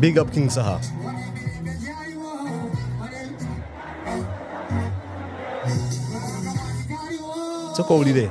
Big up King Saha. Soko ulile.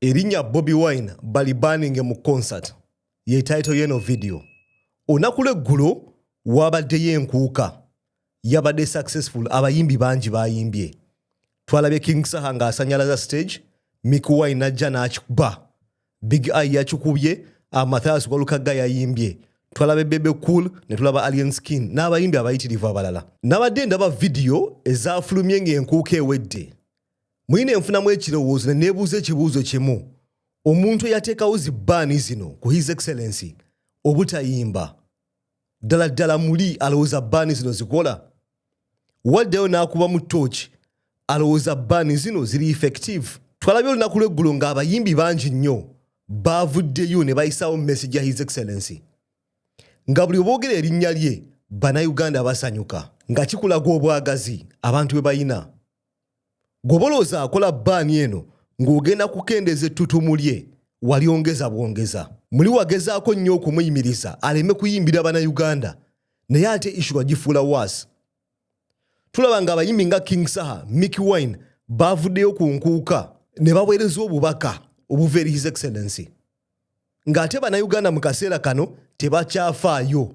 erinnya bobi wine balibaninge mu concert yetaito yeno vidiyo olunaku lweggulo wabaddeyo enkuuka yabadde successful abayimbi bangi bayimbye twalabye king saha ng'asanyalaza stage mikuwai najja n'akikuba big eye yakikubye amathaas walukagga yayimbye twalaba ebebe cool ne tulaba alien skin n'abayimbi abayitirivu abalala nabadde ndaba vidiyo ezaafulumye ng'enkuuka ewedde muyina enfunamu ekirowoozo ne neebuuza ekibuuzo kimu omuntu eyateekawo zi baani zino ku his excellency obutayimba ddala ddala muli alowooza baani zino zikola waddayo n'akuba mu tooki alowooza baani zino ziri effective twalabye olunaku lw'eggulo ng'abayimbi bangi nnyo baavuddeyo ne bayisaawo message ya his excellency nga buli oboogera erinnya lye bannayuganda basanyuka nga kikulaga obwagazi abantu bwe bayina Gwobolooza akola baani eno ng'ogenda kukendeeza ettutumu lye walyongeza bwongeza. Muli wagezaako nnyo okumuyimiriza aleme kuyimbira Bannayuganda naye ate issue wagifuula waasi. Tulaba ng'abayimbi nga King Saha, Mickey Wine baavuddeyo ku nkuuka ne baweereza obubaka obuva eri His Excellency ng'ate Bannayuganda mu kaseera kano tebakyafaayo.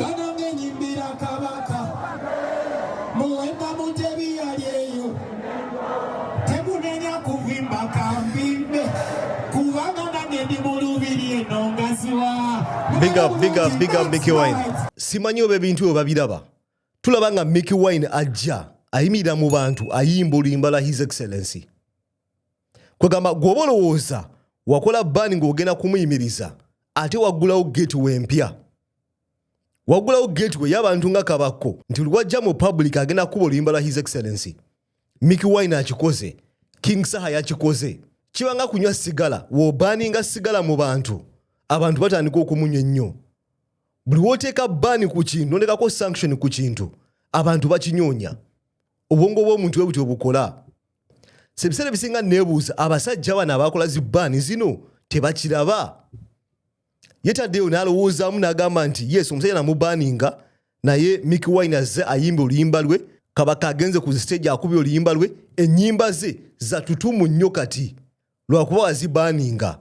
bano ngenyimbira kabaka muwemba mutebi yali eyo temunenya kuvimba kambimbe kubanga nange ndi mulubiri eno ngaziwa big up big up big up mickey wine simanyi oba ebintu ebyo babiraba tulaba nga mickey wine ajja ayimirira mu bantu ayimba oluyimbala his excellency kwegamba gwoba olowooza wakola bani ngaogenda kumuyimiriza ate waggulawo gate wempya waggulawo gate we yabantu nga kabakko nti lwajja mu public agenda kukuba oluyimba lwa his excellency miki wine akikoze king saha yakikoze kibanga kunywa sigala wobaninga sigala mu bantu abantu batandika okumunywa ennyo buli woteeka bani ku kintu nondekako sanction ku kintu abantu bakinyonya obwongo bwomuntu we buti obukola sebiseera ebisinga nebuuza abasajja bano abakola zi baani zino tebakiraba yetaddeyo nalowoozaamu nagamba nti yes omusajja namubaaninga naye miki wine azze ayimba oluyimba lwe kabaka agenze ku siteegi akubye oluyimba lwe enyimba ze zatutumu nnyo kati lwakuba wazibaaninga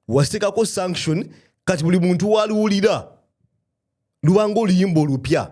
wasikako sanction kati buli muntu waluwulira lubanga oluyimba olupya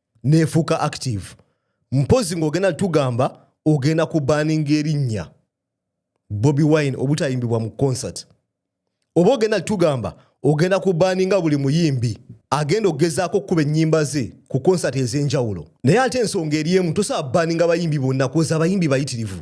nefuuka active mpozi ng'ogenda tugamba ogenda ku baninga erinnya bobi wine obutayimbibwa mu concert oba ogenda tugamba ogenda ku baninga buli muyimbi agenda okugezaako okukuba ennyimba ze ku concert ez'enjawulo naye ate ensonga eri emu tosobola baninga bayimbi bonna kuoza abayimbi bayitirivu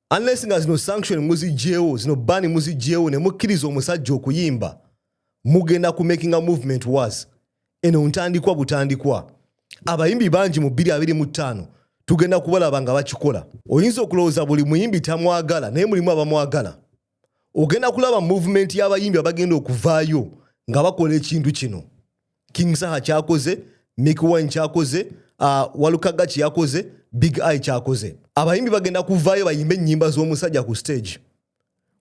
unless nga zino sanction muzijjeewo zino bani muzijjeewo ne mukkiriza omusajja okuyimba mugenda ku making a movement was eno ntandikwa butandikwa abayimbi bangi mu bbiri abiri mu ttaano tugenda kubalaba nga bakikola oyinza okulowooza buli muyimbi tamwagala naye mulimu abamwagala ogenda kulaba movement y'abayimbi abagenda okuvaayo nga bakola ekintu kino king saha kyakoze mikwine kyakoze uh, walukaga kyeyakoze big i kyakoze abayimbi bagenda kuvaayo bayimbe ennyimba z'omusajja ku stage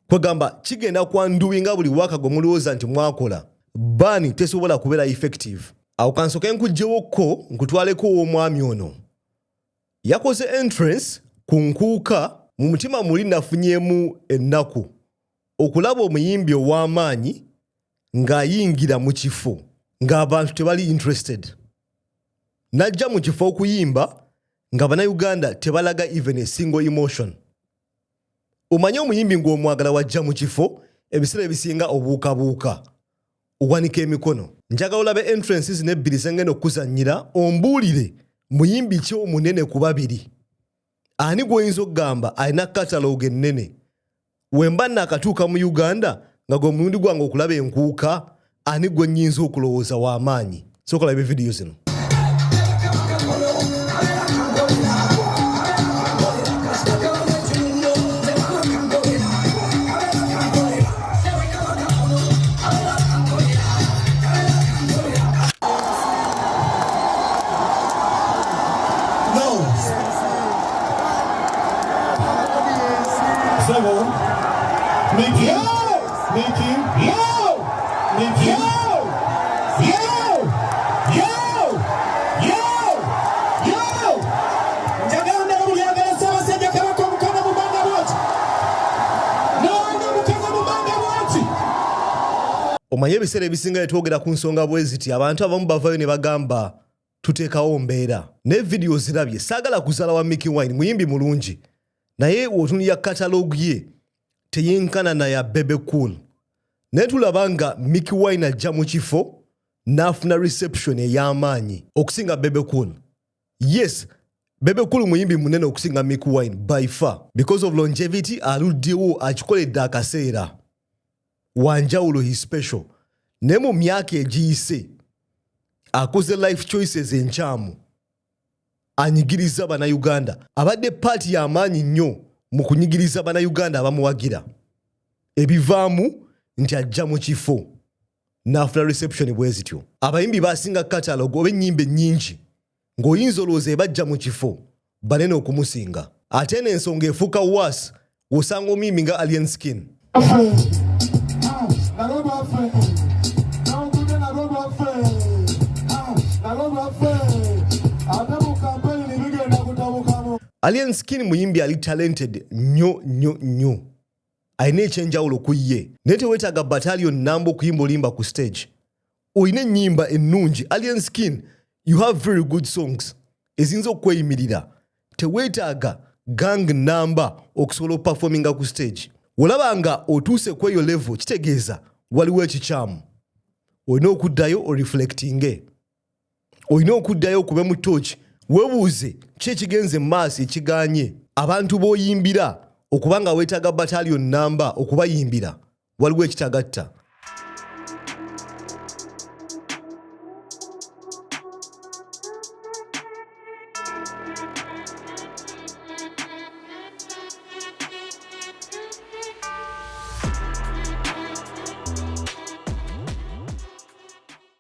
kwegamba kigenda kwanduwi nga buli waka gwe mulowooza nti mwakola baani tesobola kubeera effective awo kansoke nkuggyewokko nkutwaleko ow'omwami ono Yakoze entrance ku Nkuuka, mu mutima muli nafunyemu ennaku okulaba omuyimbi ow'amaanyi ng'ayingira mu kifo ng'abantu tebali interested. Najja mu kifo okuyimba nga Bannayuganda tebalaga even a single emotion. Omanyi omuyimbi ng'omwagala wajja mu kifo ebiseera ebisinga obuukabuuka. Wanika emikono. Njagala olabe entrance zino ebbiri ze ngenda okukuzannyira ombuulire muyimbi ki omunene ku babiri ani gw'oyinza okugamba alina katalooga ennene wemba naakatuuka mu Uganda nga gwe mulundi gwange okulaba enkuuka ani gwe nnyinza okulowooza w'amaanyi. sooka labe vidiyo zino omanye ebiseera ebisinga netwogera ku nsonga bweziti abantu abamu bavayo ne bagamba tuteekawo mbeera naye vidiyo zirabye saagala kuzala wa miki wine muyimbi mulungi naye wotunira katalogu ye teyenkana na ya Bebe Cool naye tulaba nga Mickey Wine ajja mu kifo n'afuna reception ey'amaanyi okusinga Bebe Cool. Yes, Bebe Cool muyimbi munene okusinga Mickey Wine by far because of longevity aluddewo akikoledde akaseera wanjawulo his special naye mu myaka egiyise akuze life choices enkyamu. anyigirizza Bannayuganda. Abadde ppaati ya maanyi nnyo mu kunyigiriza Bannayuganda abamuwagira. Ebivaamu nti ajja mu kifo n'afuna reception bwe zityo. Abayimbi baasinga katalogo oba ennyimba ennyingi ng'oyinza olowooza ebajja mu kifo banene okumusinga. Ate eno ensonga efuuka waasi Osanga omuyimbi nga Alien Skin. Alien Skin muyimbi ali talented nyo nyo nyo. Alina ekyenjawulo ku ye. Naye teweetaaga battalion namba okuyimba olimba ku stage. olina ennyimba ennungi alien skin you have very good songs eziyinza okukweyimirira teweetaaga gang namba okusobola okupafominga ku stage olaba nga otuuse ku eyo levo kitegeeza waliwo ekikyamu olina okuddayo oreflectinge olina okuddayo okube mu tooki webuuze ki ekigenze mu maaso ekiganye abantu b'oyimbira okuba nga weetaaga bataliyo nnamba okubayimbira waliwo ekitagatta